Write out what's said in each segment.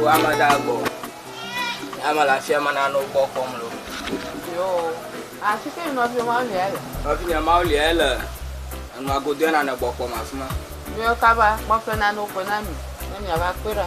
Wo ame da gbɔ. Ame le afia me nane wo gbɔ kpɔm lo. Yo. Afi ke nɔvi ma le ele. Nɔvi nye ma le ele enua godo ya nane gbɔ kpɔm afi ma. Yo kaba kpɔƒe nane wo gbɔ na mi. Ne mi ava kpe ɖa.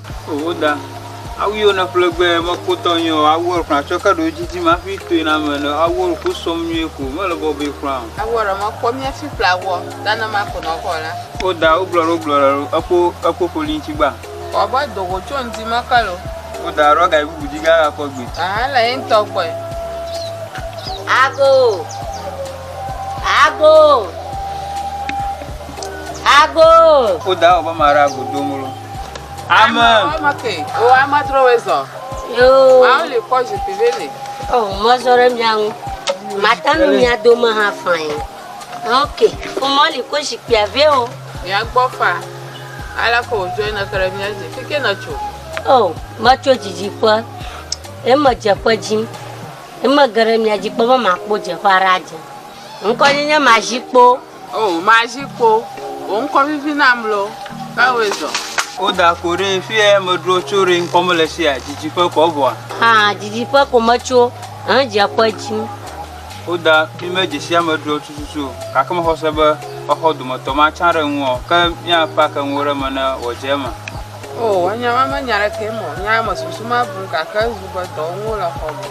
Oho da, awu yio ne ƒle gbɛ me ko tɔ nyuie o, awu ekura tsɔ ke ɖo djidjim aƒi toe na me ne awu ɔlu ko sɔm nyuie ko me le bɔbɔe kura o. Awu ɔlu me kɔ mia fi ƒle awuɔ ta ne ma ko nɔ kɔ la. O da, o gblɔ ɖe o gblɔ ɖe ɖo ekpo ekpo ƒoli ŋtsi gba. Kɔ be do go tso ŋdi me ke lo. O da, ɖɔ ga yi bubu dji ga kɔ gbe. Ahan le yintɔ gbɔe. Ago, ago, ago. O da, wɔ be ma ɖe ago do molo. Amen. Ame ke, o ame dro we zɔ. Yo. Awo le kɔ zikpi ve le. O mɔ zɔ ɖe mia ŋu. Mata nu mia dome hã fain. Ok, o mɔ le kɔ zikpia ve o. Mia gbɔ fa. Ala ko o join ke ɖe mia dzi. Fike ne tso. O, metso dzidziƒe. Eme dzeƒe dzi. Eme ge ɖe mia dzi kpɔ be makpɔ dzeƒe aɖe adze. Ŋkɔ nye nye mazikpo. O, mazi kpo, wò ŋkɔ vivi nam loo, ke wòe zɔ. O da ko ɖe fie medro tso ɖe ŋkɔ mele sia dzidzi ƒe kɔ vɔa. Ha dzidzi ƒe ko metso hẽ dzia ƒe dzim. O da mi me dzesi ame dro tututu o gake mexɔ se be woaxɔ dometɔ ma tsã ɖe ŋuɔ ke mia pak enuwo ɖe me ne wɔ dze eme. O enya ma me nya ɖekee mɔ nya eme susu ma bum gake ezu be dɔ ŋuwo le xɔ me.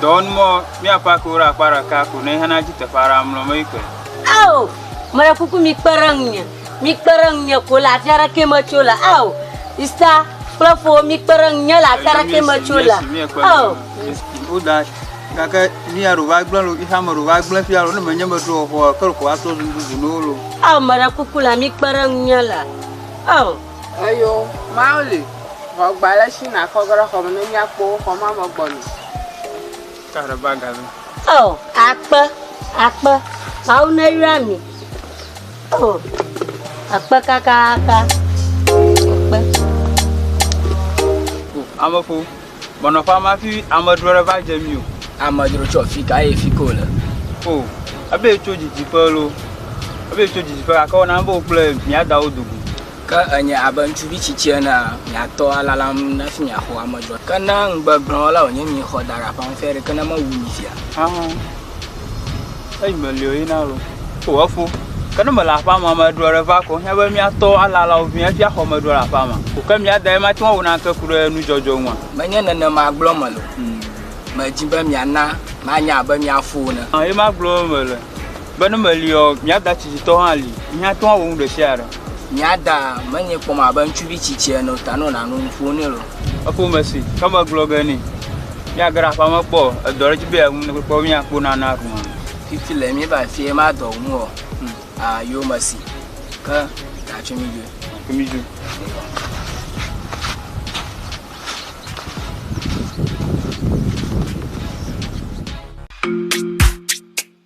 Dɔ ŋu mɔ mia pak wo ɖe akpa ɖeka ko ne hena dzi teƒe aɖe amlɔ me yi kɔe. Ao! Meɖe kuku mikpe ɖe ŋunye. Mikpe ɖe ŋunye ko le afi aɖe ke metso le. Ao! Sista kple fowo mikpe ɖe ŋunye le afi aɖe ke metso le. Ao! Woda gake ni ya ɖo va gblẽ lo, ixa me ɖo va gblẽ fia lo, ne menye meɖo xɔa, ke ko atrɔ zu bubu no lo. Ao! Meɖe kuku la mikpe ɖe ŋunye le. Ao! Eyo, Mawu li. Vɔ gba le shi nakɔ ge ɖe xɔ me ne miakpɔ wo xɔ ma me gbɔna. Oh, akpe, akpe, Mawu neyra mi. Oh, akpe kakaka. Akpe. Ameƒo, bɔnɔ ƒe ma fi amedzro ɖe va dze mi o. Amedzro tsɔ fi ka ye fi ko le. O, ebe tso didiƒe lo, ebe tso didiƒe gake wona be wokple mia dawo dogo. Ke ènye abe ŋutsuvi tsitsi enea, miatɔ alalam hafi miaxɔ ame dzɔatɔ. Ke ne ŋugbe gblɔ o la, wònye miexɔ da ɖe aƒea ŋu fia ɖe, ke ne mewu mi fia. Hã eyi me li o yi na lo. O efo, ke ne mele aƒea me ame ɖeɔ ɖe va ko, hiã be miatɔ alala wo vi hafi axɔ ame ɖeɔ le aƒea me. O ke mia dae mate ŋu awu naneke ku ɖe nu dzɔdzɔ ŋua? Menye nenema gblɔ mele o. Medi be miana manye abe mia fo ene. Hã ye ma gblɔ mele. Be ne meliɔ, mia da tsitsitɔ hã li, yi hã tɔa wɔ nu ɖe sia ɖe. Mia da menye kpɔm abe ŋutsuvi tsitsi ene o, ta ne wòle nu ƒo nɛ lo. Efo me si, ke me gblɔ ge nɛ. Mia ge ɖe aƒea me kpɔ o, edɔ ɖe dzi be yeawu ne kpɔ mia kpo nana ɖu hã. Fifi le mía va afi ye ma dɔ nu o, a yo me si, ke ta tso mi dzoe. Tso mi dzoe.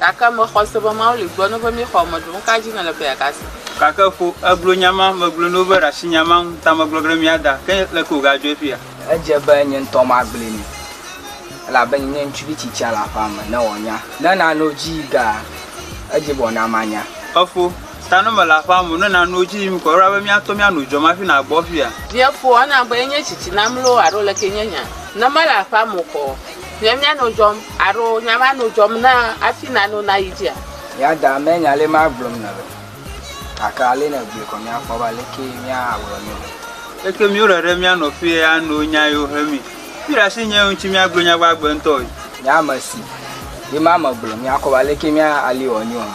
Gake mexɔ se be Mawu li gblɔ no be mi xɔ eme ɖo. Nuka dzi nèle be yeaga se? Gake ƒo eglo nya ma megblɔe no be ɖasi nya ma ŋu ta megblɔ ɖe mia da. Ke leke wòga dzɔe fia? Edze be nye ŋutɔ magblɔe nɛ, elabe nye ŋutsuvi tsitsia le aƒea me, ne wòanya. Ne nanewo dzi yi gea, edze be wòana manya. Efo, ta ne mele aƒea me o, ne nanewo dzi yim kɔ ɖa be míatɔ míano dzuam hafi nàgbɔ fia. Nye fo, ena be enye tsitsi nam loo alo ɖekee nye nya? Ne mele aƒea me o kɔ? Nye mia no dzɔm aro nya ma no dzɔm na afi na no na yi dzia. Mia da me nya le ma gblɔm na be gake ale ne gblɔe kɔ mia kpɔ ba leke mia awlɔ nyo be. Leke mio ɖe ɖe mia nɔ fie ya no nya yo he mi fi ɖa si nye yo ŋuti mia gblɔ nya gbagbe ŋtɔ yi. Nye ame si ye ma me gblɔ mia kɔ ba leke mia ali wɔ nyo ha.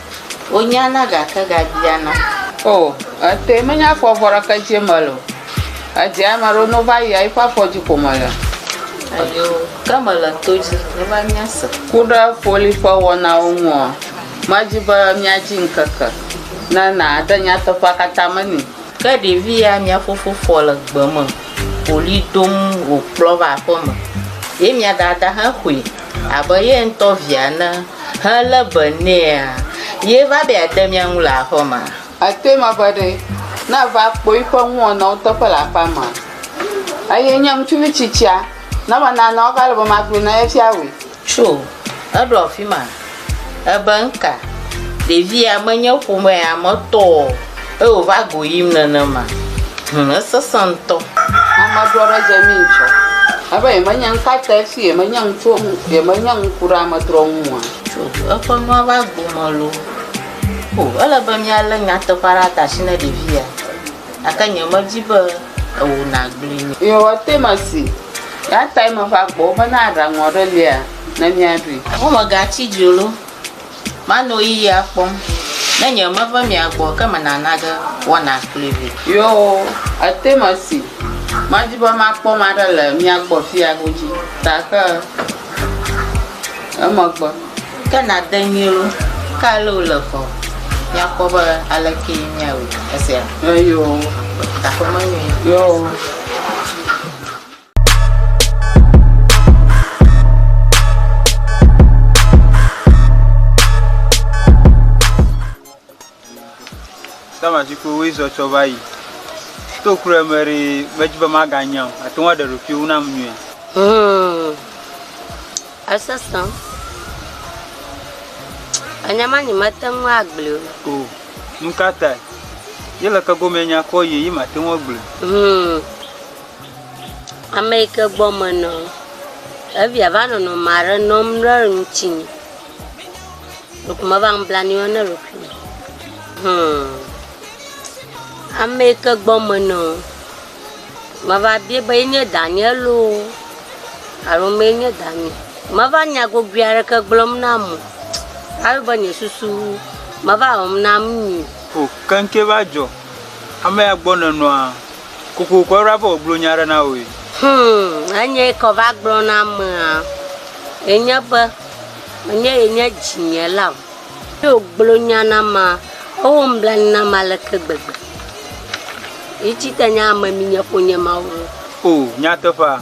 Wonyana gake gabiana. O, etɔe menye afɔ vɔ ɖeke dzi eme le o. Edze ame aɖewo ne wova yia eƒe afɔ dzi ko mele. Ayo, ke mele to dzi ne va míase. Ku ɖe foli ƒe wɔnawo ŋua? Medi be míadzi ŋkeke ne nàde nyateƒea katã me nɛ. Ke ɖevi ya mia fofo fɔ le gbe me ɣli dom wòkplɔ va aƒeme, ye mia dada hã xɔe. abe ye ŋutɔ via ene helé be nɛa, ye va be yeade mía ŋu le aƒe mea? Ate ŋu ava ɖe ne eva kpɔ eƒe nuwɔnawo teƒe le aƒea mea? Eye nye ŋutsuvi tsitsia, ne menanɔ ega le be magblɔe na ye fia wòe. Tso, eɖo afi ma. Ebe ŋka, ɖevi ya menye ƒomea me tɔ o eye wòva go yim nenema. Hum, esesẽ ŋutɔ. Amedzro aɖe dze mí ŋutsɔ. Ebe yemenye ŋka te fi yemenye ŋutso, yemenye ŋku ɖe amedzro ŋu oa? Tso eƒe nua va go me loo. O, ele be míalé nyateƒea ɖe ata si ne ɖevi ya. Gake nyemedi be ewò nàgblɔe nɛ. Yehowa toe mesi. Eya tae meva gbɔwò be ne aɖaŋu aɖe lia, ne míaɖui. Womegatsi dzi olo, manɔ ɣeyiɣia kpɔm, ne nye me ve mia gbɔ ke mena nage wɔna kluivi. Yo, ete mesi, madi be makpɔ maɖe le mia gbɔ fiya godzi ta ke emegbe. Ke nade nyui olo, ke ale wole fɔ, míakpɔ be alekee míawui esia. Eyo. Taƒe menyui. Yo. Tamazikpuiwoe zɔ tsɔ va yi. To kuru eme ɖe medzi be maganya o. Àte ŋu aɖe ɖokuiwò nam nyuie. Hmm. Esesẽ. Enya ma nyi mete ŋu agblẽ o. O. Nu ka tae? Ye le ke gomee nya kɔ yi ye mate ŋu agblẽ. Hmm. Ameyike gbɔ menɔ evia va nɔnɔ ame aɖe nɔm ɖe ŋutinye ɖeko meva nublanui wɔm ne ɖokuiwò o hum. Ameyike gbɔ menɔ meva bia be ye nye danye loo alo mee nye danye o. Meva nya gogoe aɖeke gblɔm na ame o ale be nye susu meva wɔm na nu nyui o. O keŋkeŋ va dzɔ amea gbɔ nɔnɔa Kokoko eɖo abe wògblɔ nya aɖe na wòe. Hum, enye yi ke va gblɔ na amea enye be, Menye ye nye dzinye la o. Hafi wògblɔ nya na amea, ewɔ nublanui na amea aleke gbegbe! Yi tsite nye ame mi nye ƒonye Mawu. O, nyateƒea.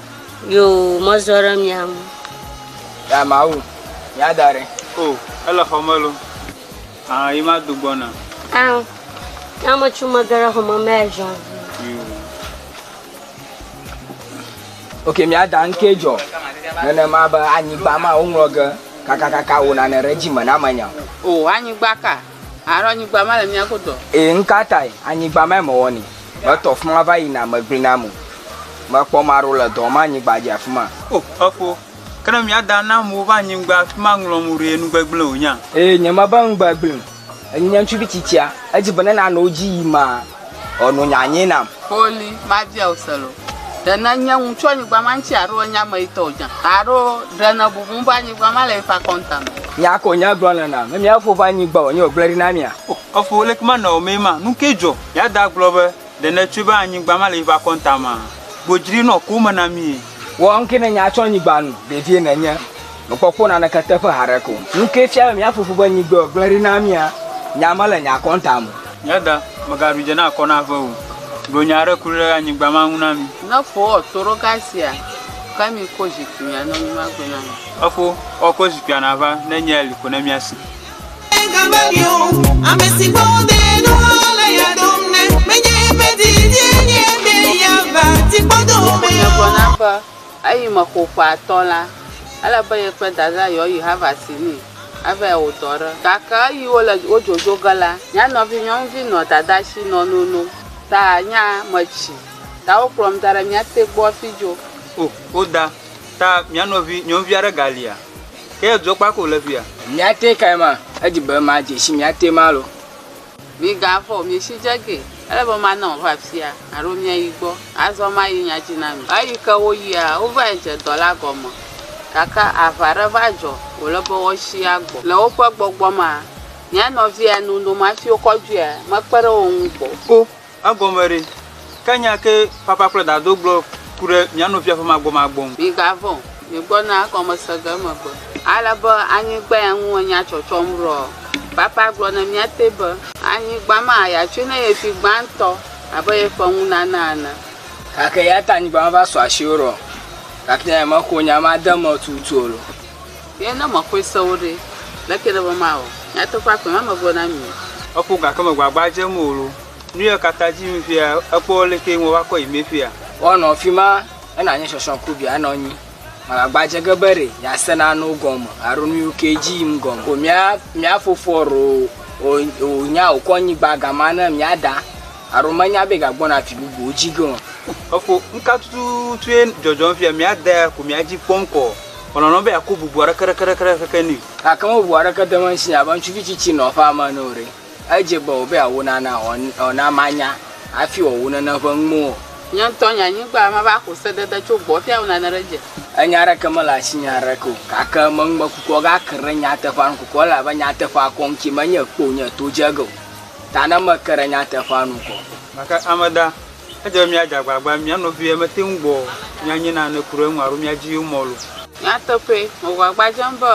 Yoo, mezɔ ɖe mia ŋu. Ya Mawu, mia da ɖe. O, ele xɔ me lo. Ã, yi ma do gbɔna. Ã, ya me tsu me ge ɖe xɔ me mɛ ʒan vi. Yoo. Ok, mia da ŋkee jɔ. Nenema be anyigba ma, wo ŋlɔ ge kakakaka wo nane ɖe dzi me na me nya. O, anyigba ka? Alo anyigba ma le mía godo. Ee, nu ka tae anyigba mae mewɔnɛ? Metɔ afi ma va yina, megblẽ na ame o. Mekpɔ ame aɖewo le dɔwɔm anyigba dzi afi ma. O, efo. Ke ne mía da na amewo va anyigba afi ma ŋlɔm o ɖe, nu gbegblẽe wònye? Ee, nyemebe nu gbegblẽe o. Enye ŋutsuvi tsitsia. Edzi be ne nanɔ wo dzi ɣi ma. Ɔ nu nya nyi nam. Xoli, ma bia ɔ se lo. Ɖe ne nye ŋu tsɔ nyigba ma ŋtsi aro enye ame yi tɔ o dza? Aro ɖe ne bubu ŋ be anyigba ma le yi ƒe akɔnta me? Nya ko nye gblɔ le nam. Mia fo ƒe anyigba o nye o gble ɖi na mia. Ɔ fo leke ma nɔ omɛ ma? Nu ke dzɔ? Ya da gblɔ be, ɖe ne tsɔe be anyigba ma le yi ƒe akɔnta mea? Gbo djri nɔ ko me na mie. Wɔ ŋkee ne nya tso anyigba nu vevie nenye mekpɔkpɔ naneke teƒe haɖe ko. Ŋkee fia be mía fofo ƒe nyigbe gblẽ ɖi na mía. Nya mele nya kɔntam o. Mía da, mègaɖu dze na akɔ na ave o. Gblɔ nya aɖe kloe ɖe anyigba ma ŋu na mí. Ne fo wɔ toɖoga sia, ke mi ko zikpuia ne mi magbe na mi. Efo wɔ ko zikpuia nava ne nyea li ko ne mía si. be eyime xoxoa tɔ la, ele be ye kple Dadaa yewoayi Havasini avae wɔ dɔ ɖe. Gake eyi wole wodzodzo ge la, mía nɔvinyɔnuvi nɔ Dadaa shi nɔ nonom, ta nya me tsi, ta wokplɔm da ɖe mía te gbɔ fijo. O, Oda, ta mía nɔvinyɔnuvi aɖe galia? Ke dɔ kpa ko le fia. Mia te kae ma edzi be ma dze si mia te ma lo. Mi ga vɔ mi si dze ge. Ele be ma nɔ va fia alo mia yi gbɔ. Azɔ ma yi nya dzi na mi. Eyi ke wo yia, wo va yi dze dɔ la gɔme. Gake aʋa ɖe va dzɔ, wo le be woa si a gbɔ. Le wo ƒe gbɔgbɔ ma, mia nɔvia nu noma fiwo kɔdzuia me kpe ɖe wo ŋu gbɔ. O. Egɔme ɖe? Ke nya ke papa kple dado gblɔ ku ɖe mía nɔvia ƒe magbɔmagbɔ ŋu. Migavɔ̃, migbɔna egɔme se ge emegbe. Ale be anyigba ya ŋu enya tsɔtsɔm ɖoa? Papa gblɔ ne mía te be. Anyigba ma ya tsoe ne ye fi gbãtɔ abe ye ƒe nunana ene. Gake eya ta anyigba ma va sɔ asi wo ɖoa? Gake nya ya mexɔ nya ma de eme tututu o. Ye ne mexɔe se wo ɖe, leke nèbe mawɔ? Nyateƒea koe mame gblɔ na mi o. Eƒo gake me gbagba dzem o lo. Nuyɔ kata dzi yim fia ekpɔ leke ŋ wova kɔ yi me fia. Wa nɔ fima ena nye shɔshɔ ku bia nɔ nyi. Ma gbagba dze ge be re ya se na no gɔme aro nuyo ke dji yim gɔme o. Mia mia fofɔ ro o o nya o kɔ nyigba gama ne mia da aro me nya be ga gbɔ na fi bubu o dji ge o. Efo ŋka tututu ye djɔdjɔm fia mia da ya ko mia dji kpɔm kɔ. Wòlɔ̃lɔ̃ be yeako bubu aɖeke ɖekeɖekeɖe keke nɛ. Gake mɔ bubu aɖeke de eme si abe ŋutsuvi tsitsi nɔ eƒe ame ene o ɖe. Edze be wòbe yeawu nana wòawu na manya hafi wòawu nene ƒe nuwo o. Nye ŋutɔ nye anyigba, mava ako sedede tso gbɔwò fia awu nane ɖe edzi. Enya aɖeke mele asinye aɖeke o, gake meŋ mekukua gake ɖe nyateƒea nu kukɔ, elabe nyateƒea kɔ ŋuti menye kpɔ wònye to dze ge o, ta ne meke ɖe nyateƒea nu kɔ. Gake ame da. Edze be míadze agbagba, mía nɔviwoe mete ŋu gbɔ o, míanye nane ku ɖe eŋu alo míadi yewo mɔ lo. Nyateƒee, mewɔ agbagba dzem be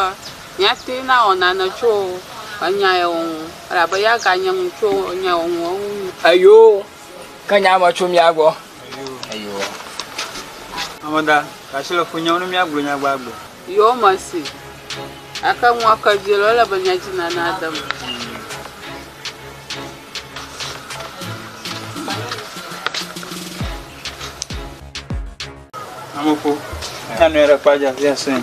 míate ŋu awɔ nane tso enya ya wɔwɔ ŋu, elabe ya ganye ŋu tso enya wɔwɔ ŋu wu. Eyo, ke nya me tso mía gbɔ. Eyo. Ame da ɖe asi le funye ŋu ne míagblɔ nya gbagbe. Yo, mese. Gake nua ke dzi le, ele be nya dzi nana dem. Amoko, na nɔe ɖe kpadza via sɛn.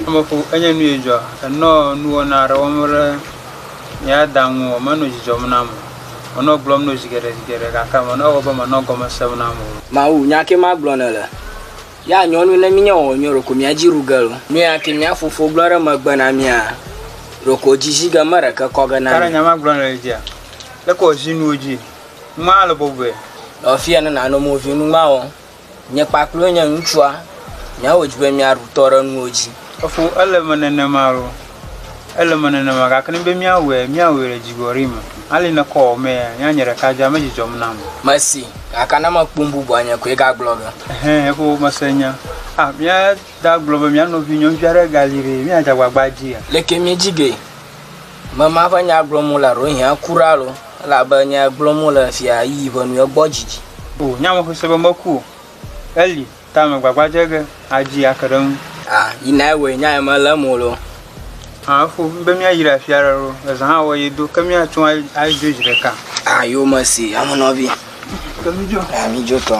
Amoko, enye nu yedzɔ. Enɔ nuwɔna aɖe wɔm ɖe ya da ŋu o, menɔ dzidzɔm nam o. Menɔ gblɔm nɔ zi geɖe zi geɖe gake menɔ ewɔ be menɔ gɔme sem nam o. Mawu, nya ke magblɔ nèle. Ya nyɔnu ne minya wɔwɔ nyuie ɖeko mia dzi ɖu gelo. Nuya ŋke mia fofo gblɔ ɖe megbe na mia, ɖeko dzi zi ge meɖeke kɔ ge na mi. Kara nya ma gblɔ nele dzia? Leke wɔ zi nuwo dzi ŋma le bɔbɔe? Le ɔfiya ne nano mo vi nu ŋma wɔ. Nye kpakple wo nye ŋutsua mia wo dzi be mia ɖu tɔ ɖe nuwo dzi. Efo ele me nenema lo. Ele eme nenema, gake ne be míawɔe, míawɔe le dzigbɔɖi me. Ali ne kɔ wɔmee ya, nye anye ɖeka dzaa, medzidzɔm nam o. Mesi, gake ne mekpɔ nububua nye koe gagblɔ be. Hẽ, eƒo mese nya. Ah, mía da gblɔ be mía nɔvi nyɔnuvi aɖe gali ɖe, míadze agbagba adzia? Leke miedzi ge? Mema ƒe nya gblɔm wole ɖewohĩa kura alo? Elabe nya gblɔm wole fia, yi ʋe nu egbɔ didi. O, nya me xɔe se be meku o. Eli. Ta me gbagba dze ge adzi ake ɖe ŋu. A, yi na ewɔe nya ye mele eme o lo. A, efo be mía yi ɖe afi aɖe lo. Ezã hã wɔ ye do ke mía tso a yi dzo dzi ɖeka. A, yo me si ame nɔvi. Ke mi dzo. A, mi dzo tɔ.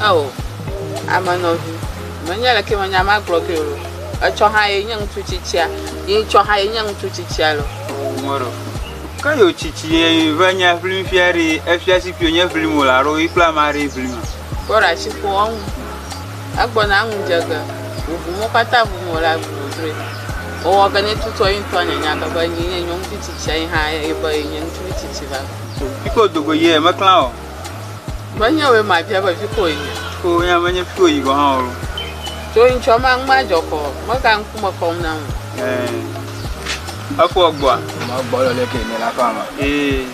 Ao, ame nɔvi, menye leke menya magblɔ ke lo. Etsɔ hã ye nye ŋutsu tsitsia, ye etsɔ hã ye nye ŋutsu tsitsia lo. Ŋɔɖo. Ke yo tsitsi ye ve nya ʋlim fia ɖi efia si kpio nye ʋlim o la ɖo yi kple ama ɖi ʋlim a? Kpɔ ɖa tsi ƒo ɔŋu. Egbɔ na ŋu dze ge. Ʋuʋu mo kpata ʋu mo la ʋu wodroe. Owɔ ge ne tutua yi ŋutɔ anya nya ke be nyi nye nyɔnuvi tsitsia yi hã ye be ye nye ŋutsuvi tsitsi va. Kiko dogo ye me klan o. Menye wòe mabia be vi koe nye. O, nya menye fi wòyi gɔ̃ hã o. Tso ŋtsɔ ma ŋu madzɔ kɔ, mega ŋkume kɔm nam o. Ɛɛ, efɔ gbɔa? Ma gbɔ le ɖe ke ne la fa ma. Ee.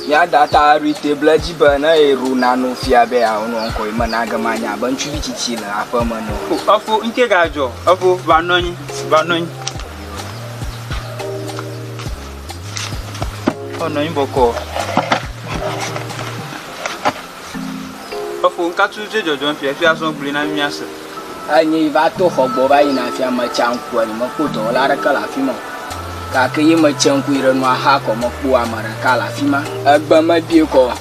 Ya data ri table dzi be ne ero na no fia be ya ono onko yi me na ge ma nya be ŋtsuvi tsitsi le aƒe me no. O, efo ŋke ga dzɔ, efo va nɔnyi, va nɔnyi. Wonɔ anyi bɔkɔ. Efo ŋkatu dze dzɔdzɔm fia fia zɔn gblui na mia se. Enyi va to xɔ gbɔ va yina fia metsa ŋku enyi mekpɔ dɔwɔla aɖeke le afi ma o. Gake ye metse ŋku yi ɖe nua xa kɔ mekpɔ ame ɖeka le afi ma. Egbe mebie kɔ o.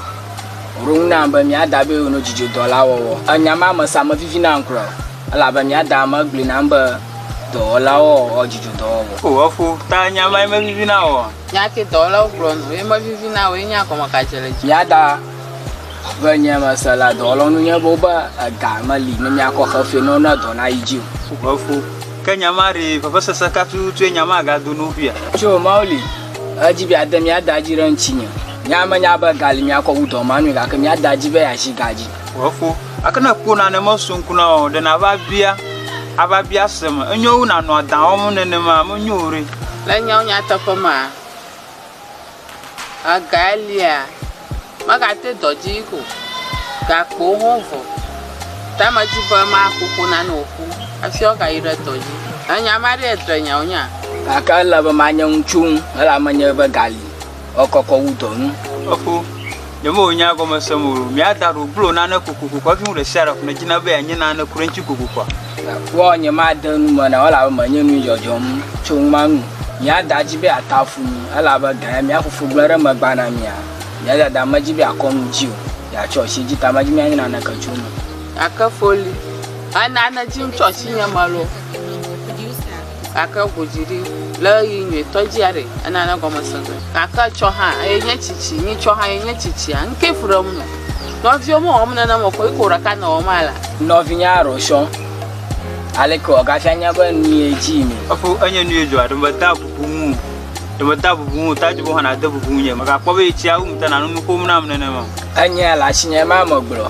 Wòɖo ŋu nam be mia da be yewonɔ dzidzodɔ la wɔwɔ. Enya ma me sa mevivina ŋkura o. Elabe mía Daa megblɔe nam be dɔwɔlawo ɔɔ dzidzɔ dɔwɔwɔ. O eƒo ta nya mae mevivi na wò ɔ? Nya ke dɔwɔlawo gblɔ nu ye mevivi na wò ye nya gɔme ka dze le dzi. Mía Daa ƒe nya mese la dɔwɔlawo nu nye be wobe ega meli ne míakɔ xe fee ne wona dɔ nayi dzi o. O eƒo ke nya ma ɖee vevesese ka tututue nya ma gado na wo ƒia? Tso o Mawu li edzi be yeade mía Daa dzi ɖe ŋutinye. Míamenya be ga li míakɔ wu dɔ ma nui gake mía Daa di be yeazi ga dzi. Efo. Ake ne ekpo nane meso ŋku na o, ɖe nava bia, ava bia seme. Enyo wu nanɔ adã wɔm nenema, menyo o ɖe. Le nyawo nyateƒe mea, ega elia megate dɔ dzi o, gakpowo hã vɔ. Ta medi be maƒo ƒo na ne wòƒu hafi woagayi ɖe dɔ dzi. Ènya ame aɖee dre nyawo nya? Gake ele be manye ŋutsu ŋu, elabe menyae be ga li. Ekɔkɔ wu dɔ nu. Efo, ne me wonya gɔme se mo lo, mia da ro blo nane koko koko afi mu ɖe sia ɖe ƒo ne dzina be anye nane ku ɖe ŋuti koko koko. Wo nye ma de nu me na wala be me nye nu jɔjɔm tso ŋma nu. Mia da dzi be ata fu mi, ela be gã mia fofo gblẽ ɖe megba na mia. Mia da da me dzi be akɔ nu dzi o, ya tsɔ si dzi ta me dzi mia nye nane ke tso nu. Ake foli, ena ne dzi ŋutsɔ si nye me lo. gake eŋu dzi ɖi le ɣeyiɣi nyuitɔ dzi aɖe ena ne gɔme se ge. Gake etsɔ hã eye nye tsitsi nyitsɔ hã eye nye tsitsia nuke fu ɖe eŋu me. Nɔviwo mewɔm nene me koe ko ɖeka nɔ wɔm alea. Nɔvinya Rochon, Aleke wòagafia nya be nu ye dzi yim? Efo enye nu ye dzɔ aɖe meda bubu ŋu o. Ɖe meda bubu ŋu o ta edze be wohana de bubu ŋunye. Mègakpɔ be yetsia wum ta nanu nu ƒom nam nenema o. Enye le asinye ema megblɔ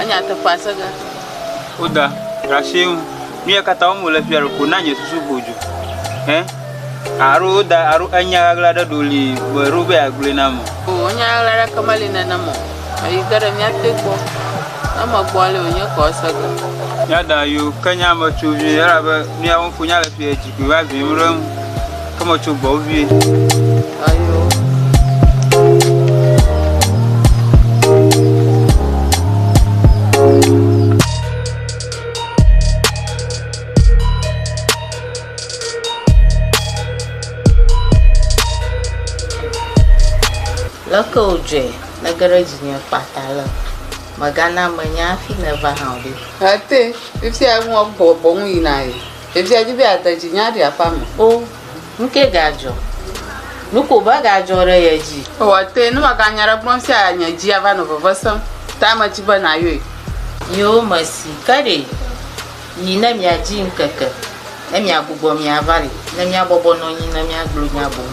Enya teƒea se ge. Woda ɖ'asii ŋu. Nuya katã wɔm wòle fia ɖeko na nye susu ho dzo. Hɛ, alo woda alo enya ɣaɣla ɖe ɖo li be ɖo be yeagblɔe nam o. Oo, enya ɣaɣla aɖeke meli nenem o. Eyi ge ɖe mía te gbɔ. Eme gbɔ li wònye kɔ ese ge. Mía da yo ke nye ame tso vie, elabe nuya wɔm fonya le fia yi dzi koe va vim ɖe eŋu. Come on, Chugbo, vie. Ayo. Leke wòdzɔe nege ɖe dzinye kpata le megana menya hafi nèva hã o ɖe. Ete, fifia ŋua bɔbɔ ŋu yina ye. Ɖevia di be yeade dzi nya ɖi aƒea me. O, nu kae gadzɔ? Nu ko va gadzɔ ɖe ye dzi. Ewɔ te, ne mèganye aɖe gblɔm sia nye dzi ava nɔ veve sem. Ta medi be nàyɔe. Yoo, mesi. Ke ɖe? Yi ne miadzi ŋkeke, ne miagbugbɔ miava li, ne miabɔbɔ nɔ anyi, ne miagblɔ nya boŋ.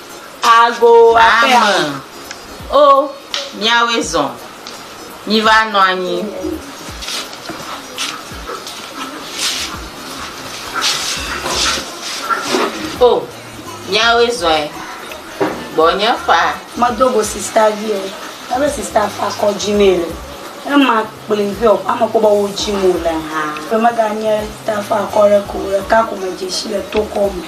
Ame, O míawoe zɔ, míva nɔ anyi. O míawoe zɔe, gbɔnye faa. Medo go sista vi o, ebe sista fa kɔ dzi mee le. Ema kplii be o ame kpɔ be wo dzi mo le hã. Be mega nye sista fa kɔ ɖe ko ɖeka ko me dzeshi le tokɔ me.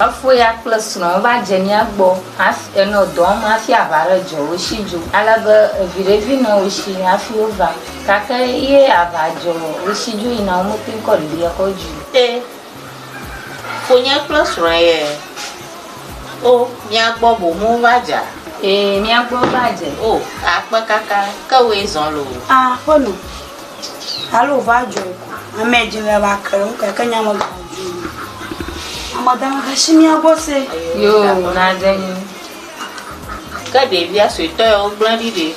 Efoya kple srɔ̃a va dze mía gbɔ hafi enɔ dɔ wɔm hafi aʋa aɖe dzɔ wo si dzo. Ale be viɖe vi nɔ wo si hafi wova. Gake eye aʋa dzɔ wo si dzo yina womete ŋu kɔ ɖevi ya kɔdzi o. E, fonya kple srɔ̃a ye. O, mía gbɔ boŋ wova dze. E, mía gbɔ va dze. O, akpe kaka, ke woe zɔ loo. A, Pɔlu. Alo va dzɔ ame dzi le va ke ŋu keke nya me gɔme dzi. Ame da me shi mia gbɔ se. Yo na de ni. Ke de via sui to yo gblã di de.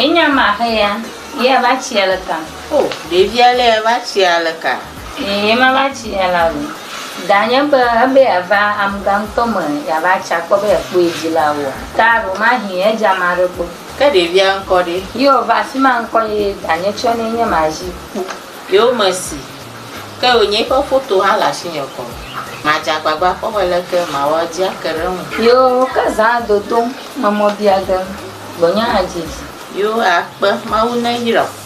Enya ma he ya. Ye va tsi aleka. Oh, de via le va tsi aleka. Eye ema va tsi ya la o. Ga nye be ebe yeava amuga ŋutɔ me yeava tsi akpɔ be yekpɔe dzi la oa? Taɖo mahi edze ame aɖe gbɔ. Ke ɖevia ŋkɔ ɖe? Yo va afima ŋkɔ eye ga nye tsɔ nɛ nye ma zi kpɔ. Yo me si. Ke yo nye ƒe foto hã le asi nye kɔ. Ma dze agbagba akpɔ be leke ma wɔ edzi ake ɖe eŋu. Yo ke zã dodom, me mɔ bia ge, gbɔnye hã dzi edzi. Yo a kpe, Mawu ne yra o.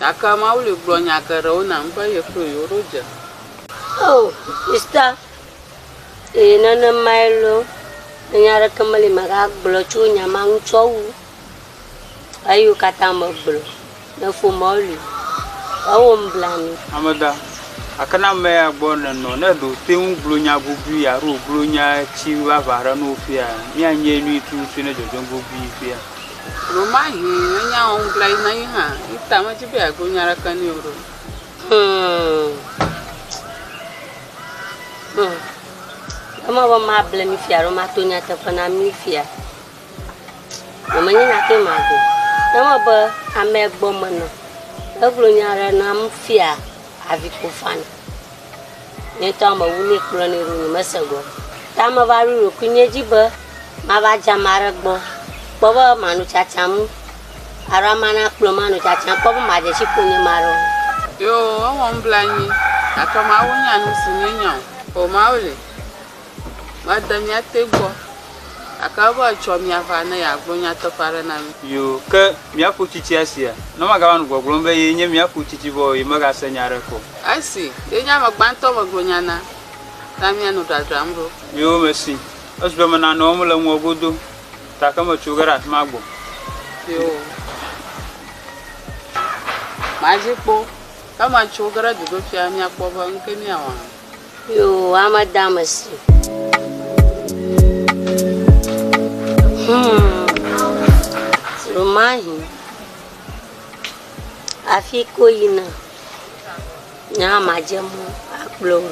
Gake Mawu li gblɔ nya geɖewo nam be yeklo yewo ɖo dze. Oh, sista, ee, nenemae loo. Nya aɖeke meli magagblɔ tso nya ma ŋu tsɔ wu eyiwo katã megblɔ ne ƒomeawo li. Ewɔm blanui. Ameda, gake ne amea gbɔ nènɔ, ne ɖe wòte ŋu gblɔ nya gobii alo wògblɔ nya tsi vavã aɖe na wò fia, míanye nyui tututu ne dzɔdzɔm gobii fia. Ɖewomahi enyaa wɔm glai na yi hã. Yi ta medzi be yeagblɔ nya aɖeke nɛ o ɖo. Ema be mable mi fia alo mato nyateƒe na mi fia o. Menye nya ke magblɔ o. Ema be amea gbɔ menɔ. Egblɔ nya aɖe nam fia avi ko fani. Nyetɔ me wu nɛ kplɔ nɛ ɖo nye me se gɔ. Ta me va ɖo ɖokui nye dzi be ma va dze ame aɖe gbɔ kpɔ be ma nu tsatsaŋ alo ame na kplɔ ma nu tsatsaŋ kpɔ be ma dze tsi ƒo nye ma ɖe o. Yoo, ewɔm blanyi gake Mawu nya nusi nye nya o. Oo, Mawu li. Made mía te gbɔ, gake ebe etsɔ mía va ne yeagblɔ nyateƒe aɖe na mí. Yo, ke míaku tsitsi esia, ne magava nu gbɔgblɔm be ye nye míaku tsitsi vɔ o, ye megase nya aɖeke o. Esi ye nye ame gbãtɔ megblɔ nya na, ta mía nu dradram ɖo. Yo, mesi esu be mena nɔm le ŋuwò godo ta ke metso ge ɖe afi ma gbɔ. Yo, madzi kpɔ, ke metso ge ɖe duɖoƒia, míakpɔ be nuke míawɔ hã. Yoo, ame dame si. Hmm. Romahi. Afi ko yina. Nya madze mɔ akplɔ wo.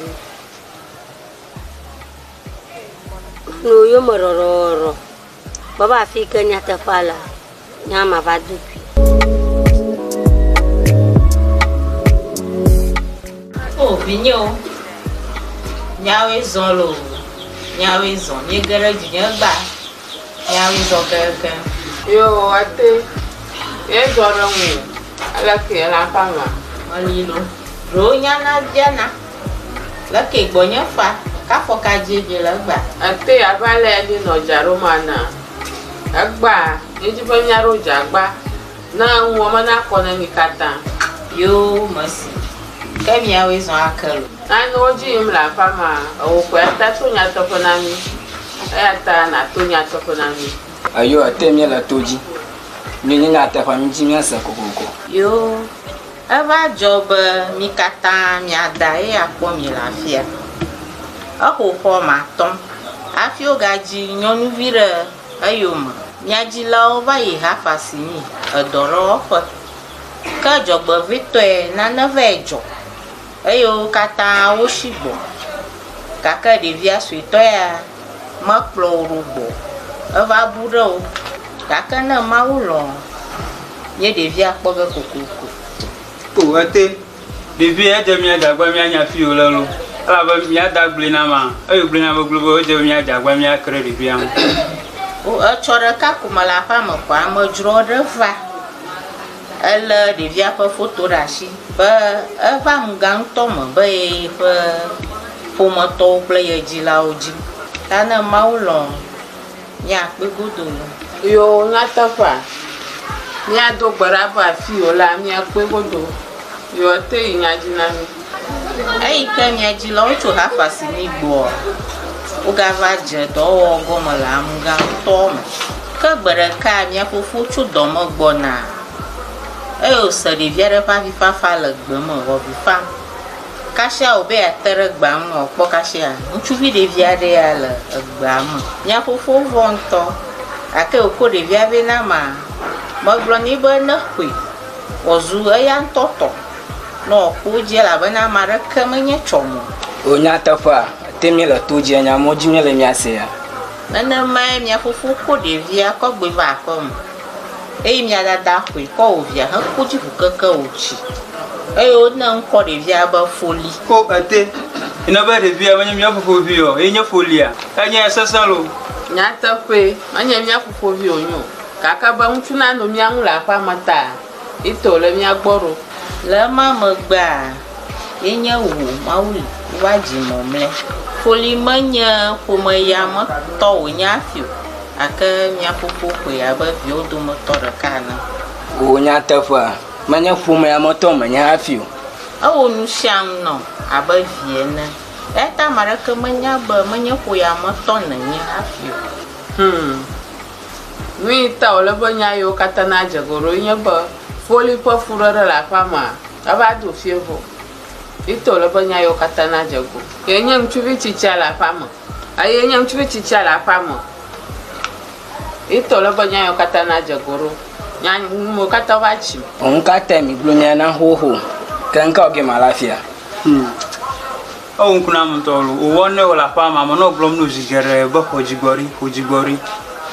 No yo me rɔrɔrɔ. Baba afi yi ke nyateƒea lea, nye hã mava do gui. O oh, vinyewo, nyawoe zɔ lo, nyawoe zɔ, míege ɖe dzinye gba, nyawoe zɔ keke. Yo, ate, míezɔ ɖe ŋu, aleke yela ƒe ama? Ɔlilo, ɖewo nyana biana. Le ke gbɔ nye fa, ka fɔ ka dje dje le egba. Ete ya va le ya dje nɔ dja ɖo ma na egba ye dji be mia ɖo dja gba na eŋuɔ me na kɔ ne mi kata. Yoo mesi ke mia woe zɔ ake lo. Nane wo dji yim le aƒa ma ewo kɔe ata to nya tɔxe na mi eya ta na to nya tɔxe na mi. Eyo ete mie le to dji mi nye nya teƒa mi dji mia se kokoko. Yoo. Eva dzɔ be mi katã mia dae akpɔ mi le afia. Exo xɔ me atɔ̃ hafi wogadzi nyɔnuvi ɖe eyome. Mia dzilawo va yi hafa si mi edɔ ɖe wɔƒe. Ke dzɔgbevɔ̃etɔe nane vae dzɔ. eye wo katã wosi gbɔ gake ɖevia suetɔ ya mekplɔ wo ɖo gbɔ o. Eva bu ɖe wo gake ne Mawu lɔ̃ ye ɖevia kpɔ ge kokoko. O ete, ɖevi edze mía dza agbea míanya afi yi wòle loo, elabe mía da gblɔe na ma, eye wògblɔe na be globoe edze be mía dza agbea míake ɖe ɖevia ŋu. O etsɔ ɖeka ko mele aƒea me ko amedzroawo ɖe va. Elé ɖevia ƒe foto ɖe asi be eva ŋga ŋutɔ me be ye ƒe ƒometɔwo kple ye dzilawo dzi. Ta ne Mawu lɔ̃ míakpɔe godoo. Yo, nyateƒea, míado gbe ɖa be afii wòlea, míakpɔe godoo. Yo, ete yi nya dzi na mí. Eyi ke mia dzilawo tso Xafa si mi gbɔa, wogava dze dɔwɔwɔ gɔme le amugã ŋutɔ me. Ke gbe ɖeka mia fofo tso dɔ me gbɔna, eye wòse ɖevi aɖe ƒe avifafa le gbe me wòavi fam. Kasia wòbe yeate ɖe gbea ŋu wòakpɔ kasia ŋutsuvi ɖevi aɖe ya le egbea me. Mia fofo vɔ̃ ŋutɔ, gake wòko ɖevia vɛ na amea. Megblɔ nɛ be neƒoe wòazu eya ŋutɔ tɔ. Nɔ kpo wo dzi elabena ame aɖeke menye tsɔ mo. O nyateƒea, ete mí le to dzi nya mɔ dzi mí le mía sea? Nenemae mia fofo kɔ ɖevia kɔ gbɔe va aƒe me, eye mia dada ƒoe kɔ wò via hekɔ dzi ƒu keke wò tsi, eye wo ne ŋkɔ ɖevia be foli. Ko ete yi ne be ɖevia menye mía fofo vi ɔ, ye nye folia? Enya ya sesẽ loo. Nyateƒee, menye mía fofo vi wonye o, gake be ŋutsuna no mía ŋu le aƒea me ta. Etɔ le mía gbɔ ɖo. Le ema megbea, ye nye wò, Mawu li, wova dzi mɔ mlɛ. Foli menye ƒomeya me tɔ wònye hafi o, gake mía fofo xɔe abe viawo dometɔ ɖeka ene. Wò nyateƒea, menye ƒomeya me tɔ menye hafi o. Ewɔ nu sia nu nam abe vi ene. Eyata ame aɖeke menya be menye ƒoya me tɔ nènye hafi o. Hum. Nu yi ta wòle be nya yiwo katã nadze egɔme ɖoe nye be foli ƒe fuɖeɖe le aƒea mea, eva do fiẽ vɔ. Eyi ta wòle be nya yiwo katã nadze egɔme. Kee nye ŋutsuvi tsitsia le aƒea me. Eye nye ŋutsuvi tsitsia le aƒea me. Eyi ta wòle be nya yiwo katã nadze egɔme ɖo. Nya ŋumewo katã va tsi. Ŋu ka tae migblɔ nya na xoxo keŋkeŋ ɔ gema la fia? Ewu ŋku na ame ŋutɔ loo. Wòwɔ nɛ wòle aƒea me. Ame nɔ gblɔm nɛ zi geɖe be xɔ dzigbɔɖi, xɔ dzigbɔɖi.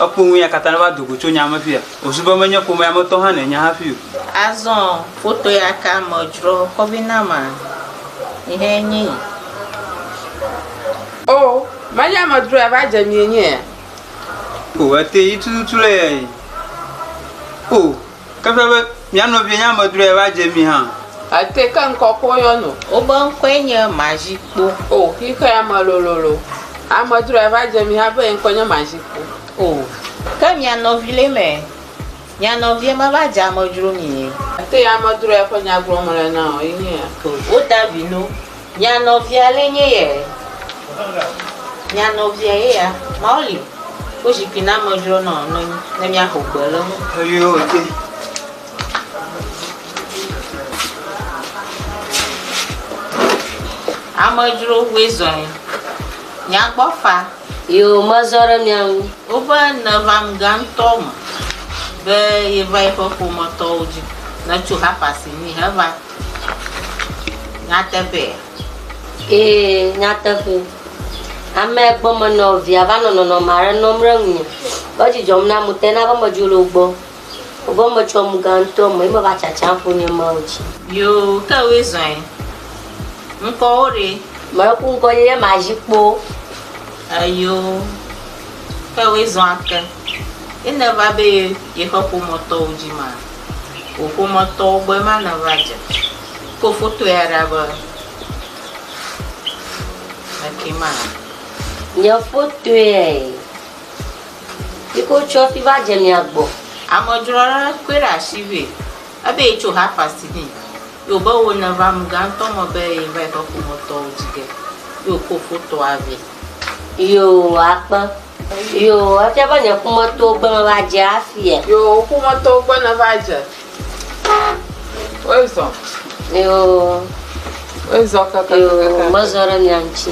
Ekpɔ nu ya katã ne va do go tso nya me fia. Wòzu be menye ƒomea me tɔ hã nènya hafi o. Azɔ foto ya ka me dzrɔ kɔvi na ma? Yi hɛ nyi yi. O, menye ame dzrɔ ya va dze mi enye ya? O, ete yi tututu le ya yi. O. Ke ƒe be mía nɔvie nye amedzroe va dze mí hã. Ete ke ŋkɔ ko yɔ no. Wobe ŋkɔe nye Mazikpo. O, xixea ame lololo. Amedzroe va dze mí hã be ye ŋkɔe nye Mazikpo. O, ke mía nɔvi le eme. Mía nɔvie meva dze amedzro mí. Ete amedzroe ƒe nya gblɔm mele na wò ye nye ya. O, woda vi no. Nya nɔvia le nye ye e. Nya nɔvia ye ya. Mawo li wo zikpui na me dzro nɔ nɔnyi ne mia xo gbe le ŋu. Eyio ete. Ame dzro woe zɔ yi. Nya gbɔ fa. Yo ma zɔ ɖe mia ŋu. Woƒe ne va ŋu gã ŋutɔ me be ye va yi ƒe ƒome tɔwo dzi ne tso hapa si mi he va. Nyateƒee? Ee, nyateƒee. Ame gbɔmenɔ via va nɔ nɔnɔme aɖe nɔm ɖe ŋunye. Eƒe dzi dzɔm nam ŋutɔ ena be medzo le wo gbɔ. Evɔ metso emugã ŋutɔ me ye meva tsatsam ƒo nye Mawu dzi. Yoo, ke woe zɔe. Ŋkɔwò ɖe? Meku ŋkɔdzi ye mazi kpo. Eyoo, ke woe zɔa ke? Ye nèva be ye xɔ ƒometɔwo dzi ma? wò ƒometɔwo gbɔ ema nèva dze. Kpɔ foto ya ɖa be meke ma le. Nye fotoe yi ke wotsɔ hafi va dze mia gbɔ. Amedzro aɖe kɔe ɖe asi vɛ. Ebe yetso half past nɛ. Ye wòbe wò nèva amegã ŋutɔ me be yeva yi ƒe ƒometɔwo dzi ge. Ye wòkɔ fotoa vɛ. Yoo akpe. Yoo, efia be nye ƒometɔwo gbe meva dze afia. Yoo, wò ƒometɔwo gbe neva dze. Woe zɔ. Yoo. Woe zɔ kaka. Yoo, mezɔ ɖe mia ŋuti.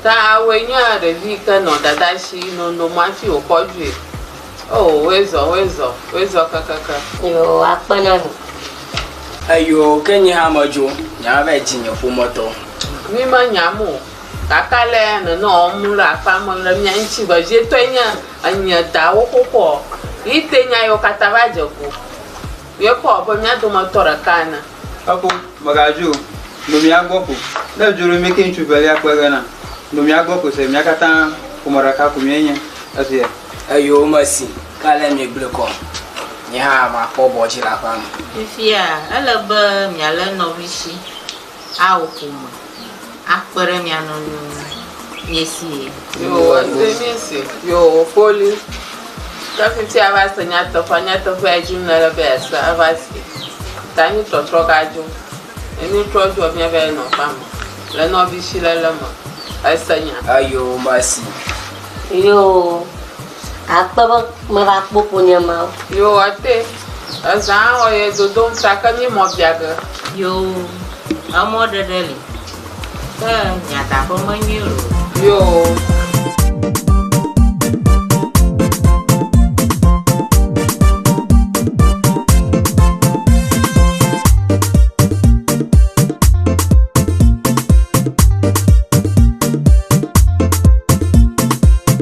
Ta awoe nye ɖevi yi ke nɔ dada si nonom hafi wòkɔ dzoe. Oo, woezɔ, woezɔ, woezɔ keŋkeŋkeŋ. Eyoo, akpe na mi. Eyoo, ke nye hã medzo, nye hã va yi dzi nye ƒometɔ. Mi menyam o, gake ale ya nènɔ wɔm le aƒea me le mía ŋuti vevietɔe nye enye dawo xoxoa? Yi te nya yewo katã va dze ƒo. Ye kpɔ abe mía dometɔ ɖeka ene. Efo, mègadzo o, no mía gbɔ ko. Ne èdzo ɖo mìke ŋutsu velia kpe ge na, no mía gbɔ ko se, mía katã ƒome ɖeka ko míenye. Esia. Eyowòme si ke ale miegblɔe kɔ, nye hã makpɔ bɔ dzi le aƒea me. Fifia, ele be mialé nɔvi si. Ao ƒome akpe ɖe mia nu nu miesi ye. Yehowa se miese. Yehowa kpoli ke fiti ava se nyateƒea nyateƒea edim nele be ase ava se ta nu trɔtrɔ ga dzo enu trɔ dzo mia va nɔ ƒa me le nɔvi si le le me ese nya. Ayo masi. Yo. Akpe be meva kpɔ ƒonye ma o. Yoo ete. Ezã ɔ yɛ dodom ta ke mí mɔ bia ge. Yoo emɔ ɖeɖe li ke miadaƒe menyui loo. Yoo.